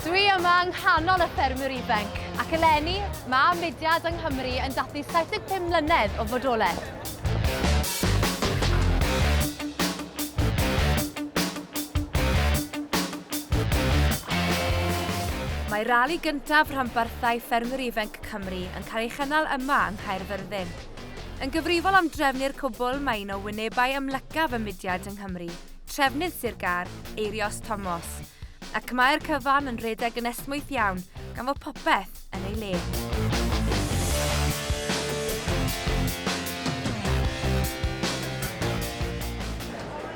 Dwi yma yng nghanol y ffermwyr ifanc, ac eleni mae mudiad yng Nghymru yn dathlu 75 mlynedd o fodolaeth. Mae rali gyntaf rhanbarthau ffermwyr ifanc Cymru yn cael ei chynnal yma yng Nghaerfyrddin. Yn gyfrifol am drefnu'r cwbl mae un o wynebau amlycaf y mudiad yng Nghymru, Trefnydd Sir Gâr, Eirios Tomos, ac mae'r cyfan yn rhedeg yn esmwyth iawn gan fod popeth yn ei le.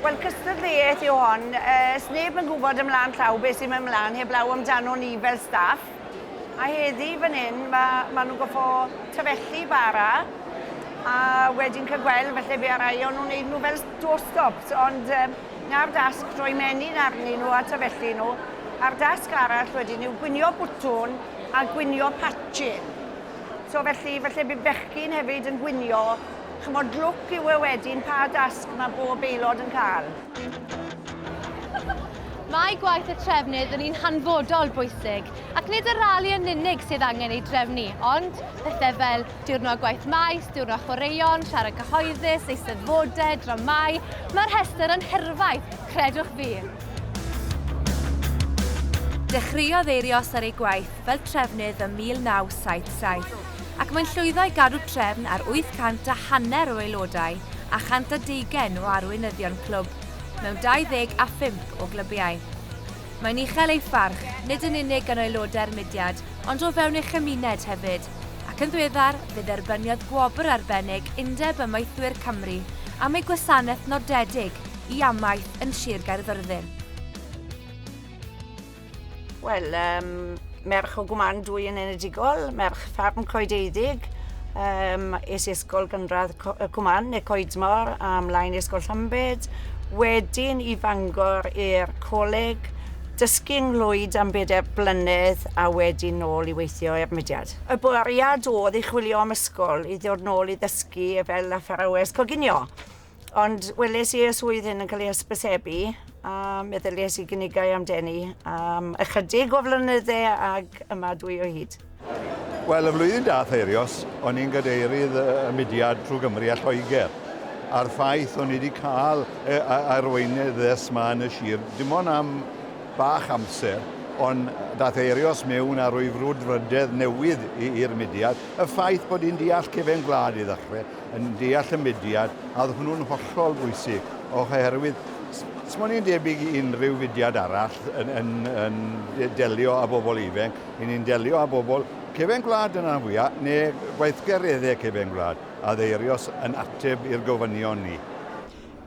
Wel, cystadleuaeth yw hon. Ys neb yn gwybod ymlaen llaw beth sy'n mynd mlaen heblaw amdano ni fel staff. A heddi fan hyn, mae, maen nhw'n goffo tyfethu bara, a wedyn cael gweld felly fe arai o'n nhw'n neud nhw fel doorstops, ond um, na'r dasg droi menyn arnyn nhw a tyfethu nhw. A'r dasg arall wedyn yw gwynio bwtwn a gwynio patchyn. So felly, felly bydd bechgyn hefyd yn gwynio, chymod lwc yw e wedyn pa dasg mae bob aelod yn cael. Mae gwaith y trefnydd yn un hanfodol bwysig, ac nid y rali yn unig sydd angen ei drefnu, ond pethau fel diwrnod gwaith maes, diwrnod chwaraeon, siarad cyhoeddus, eisteddfodau, dramau, mae'r rhestr yn hirfaith, credwch fi! Dechreuodd Eirios ar ei gwaith fel trefnydd ym 1977. ac mae'n llwyddo i gadw trefn ar 800 a hanner o aelodau a 120 o arweinyddion clwb mewn 25 o glybiau. Mae'n uchel ei pharch, nid yn unig gan aelodau'r mudiad, ond o fewn ei chymuned hefyd, ac yn ddiweddar fe dderbyniodd gwobr arbennig Undeb Amaethwyr Cymru am ei gwasanaeth nodedig i amaeth yn Sir Gaerfyrddin. Wel, um, merch o gwmand dwy yn enedigol, merch ffarm coedeiddig, um, es i ysgol gynradd y cwmand neu coedmor a mlaen ysgol Llambed, wedyn i fangor i'r coleg, dysgu yng Nghlwyd am bedair blynedd a wedyn nôl i weithio i'r mudiad. Y bwriad oedd i chwilio am ysgol i ddod nôl i ddysgu fel athrawes coginio. Ond weles i y swydd hyn yn cael ei hysbysebu a meddylies i gynigau amdeni am ychydig o flynyddau ag yma dwi o hyd. Wel, y flwyddyn dath Eirios, o'n i'n gadeirydd y mudiad trwy Gymru a Lloegr, a'r ffaith o'n i wedi cael e, arweinydd ddes ma yn y sir, dim ond am bach amser, ond dath Eirios mewn a rwy frwdfrydedd newydd i'r mudiad, y ffaith bod hi'n deall cefen gwlad i ddechrau, yn deall y mudiad, a oedd hwnnw'n hollol bwysig, oherwydd Sut mae'n ni'n debyg i unrhyw fudiad arall yn, yn, yn delio â bobl ifenc, i ni'n delio â bobl cefn gwlad yn anfwyaf, neu gweithgareddau cefn gwlad, a ddeirios yn ateb i'r gofynion ni.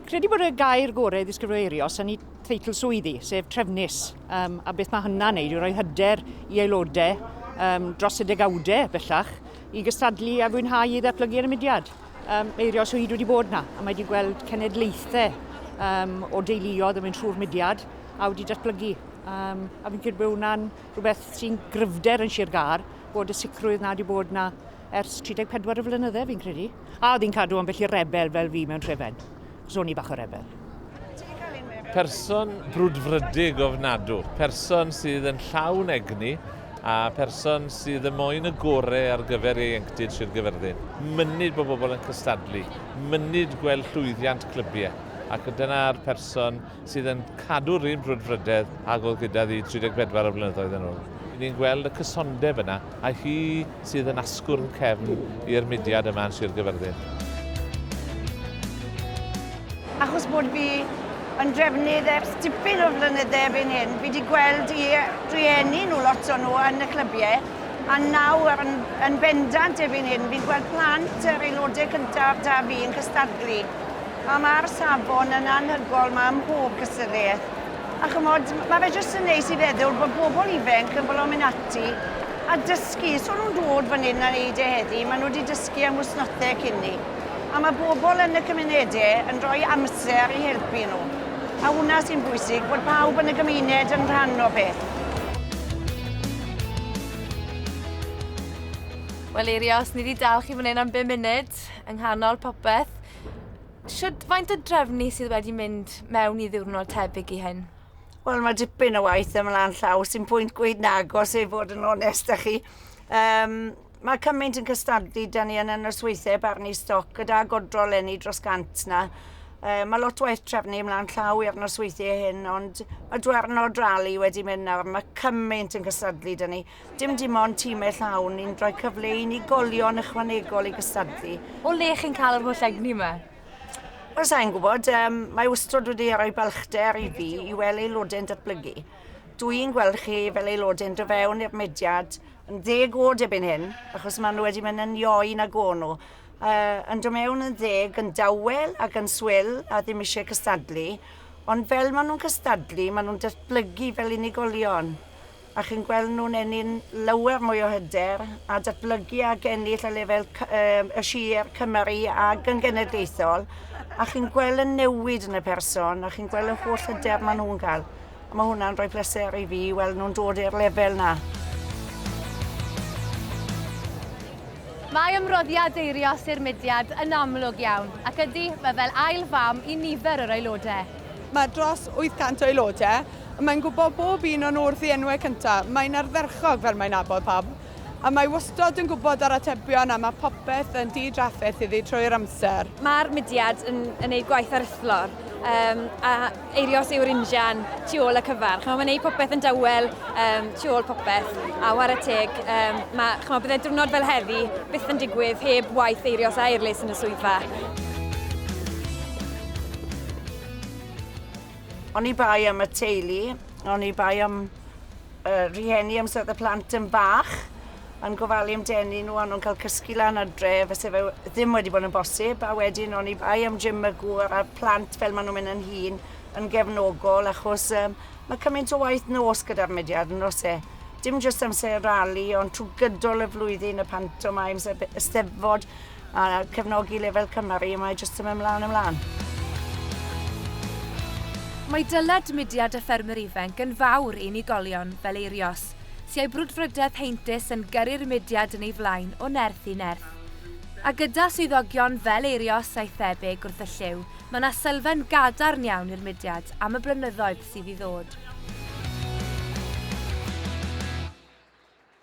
Credu bod y gair gorau ddisgrifio eirios yn ei theitl swyddi, sef trefnus, um, a beth mae hynna'n neud yw rhoi hyder i aelodau um, dros y degawdau bellach, i gystadlu a fwynhau i ddatblygu ar y mudiad. Um, eirio Swyd wedi bod na, a mae wedi gweld cenedlaethau um, o deuluodd yn mynd trwy'r mudiad a wedi datblygu. Um, a fi'n credu bod hwnna'n rhywbeth sy'n gryfder yn Sir Gar, bod y sicrwydd na wedi bod na ers 34 y flynyddau fi'n credu. A oedd hi'n cadw ambell i'r rebel fel fi mewn trefen. Ro'n i bach o rebel. Person brwdfrydig ofnadw, person sydd yn llawn egni a person sydd yn moyn y gorau ar gyfer ieuenctid Sir Gyfyrddin. Mynyd bod bobl yn cystadlu, mynyd gweld llwyddiant clybiau, ac dyna'r person sydd yn cadw'r un brwdfrydedd ag oedd gyda fi 34 o flynyddoedd yn ôl. Ry'n ni'n gweld y cysondeb yna, a hi sydd yn asgwrn cefn i'r mudiad yma yn Sir Gyfyrddin. Achos bod fi yn drefnydd ers dipyn o flynydde erbyn hyn, fi wedi gweld i drueni nhw lot o'n nhw yn y clybiau, a nawr yn, yn bendant erbyn hyn, fi'n gweld plant yr aelodau cyntaf da fi yn cystadlu A mae'r safon yn anhygoel 'ma ym mhob cystadleuaeth. A chymod, mae fe jyst yn neis i feddwl bod bobl ifainc yn fodlon mynd ati a dysgu. So nhw'n dod fan hyn a wneud e heddi, maen nhw wedi dysgu am wythnosau cyn ni. A mae bobl yn y cymunedau yn rhoi amser i helpu nhw. A hwnna sy'n bwysig, bod pawb yn y gymuned yn rhan o beth. Wel Eirios, ni wedi dal chi fan hyn am bum munud, yng nghanol popeth. Shwd faint o drefnu sydd wedi mynd mewn i ddiwrnod tebyg i hyn? Wel mae dipyn o waith ymlaen llaw sy'n pwynt gweud nagos i fod yn onest â chi. Um, mae cymaint yn cystadlu da ni yn y nosweithiau barnu stoc gyda godro lenni dros gant na. Uh, mae lot waith trefnu ymlaen llaw i'r nosweithiau hyn, ond mae dwern o drali wedi mynd nawr. Mae cymaint yn cystadlu da ni. Dim dim ond timau llawn ni'n rhoi cyfle i unigolion ychwanegol i gystadlu. O le chi'n cael yr holl egni yma? Wel, sa'n gwybod, um, mae wstrod wedi rhoi balchder i fi i weld aelodau'n datblygu. Dw i'n gweld chi fel aelodau'n dod fewn i'r mediad yn ddeg oed erbyn hyn, achos maen nhw wedi mynd yn ioi na go nhw. Uh, yn dod mewn yn ddeg, yn dawel ac yn swil a ddim eisiau cystadlu, ond fel maen nhw'n cystadlu, maen nhw'n datblygu fel unigolion. a chi'n gweld nhw'n ennyn lawer mwy o hyder a datblygu ac ennill y lefel y sir Cymru ac yn genedlaethol a chi'n gweld y newid yn y person a chi'n gweld y holl hyder maen nhw'n cael. Mae hwnna'n rhoi pleser i fi i weld nhw'n dod i'r lefel na. Mae ymroddiad deirio Sir Mudiad yn amlwg iawn, ac ydy, mae fel ail fam i nifer yr aelodau. Mae dros 800 o aelodau a mae'n gwybod bob un o'n wrth ei enwau cynta, mae'n ardderchog fel mae'n nabod pawb, a mae wastod yn gwybod yr atebion a mae popeth yn di-drafferth iddi trwy'r amser. Mae'r mudiad yn yn neud gwaith aruthlor yym a Eirios yw'r injan tu ôl y cyfan. Ch'mo' mae'n neud popeth yn dawel yym tu ôl popeth a whare teg yym ma' ch'mo' bydde diwrnod fel heddi byth yn digwydd heb waith Eirios a Eirlys yn y swyddfa. Oni bai am y teulu, oni bai am y rhieni amser oedd y plant yn fach, yn gofalu am denu nhw, a nhw'n cael cysgu lan ar dre, fyse fe ddim wedi bod yn bosib, a wedyn oni bai am Jim y gŵr a'r plant fel maen nhw'n mynd yn hun, yn gefnogol, achos um, mae cymaint o waith nos gyda'r mudiad yn os e. Dim jyst amser rali, ond trwy gydol y flwyddyn, y pantomimes, y eisteddfod, A cefnogi lefel cymar i, mae jyst yn mynd mlaen a mlaen. Mae dyled mudiad y ffermwyr ifainc yn fawr i unigolion fel Eirios, sy a'i brwdfrydedd heintus yn gyrru'r mudiad yn ei flaen o nerth i nerth. A gyda swyddogion fel Eirios a'i thebyg wrth y llyw, mae yna sylfaen gadarn iawn i'r mudiad am y blynyddoedd sydd i ddod.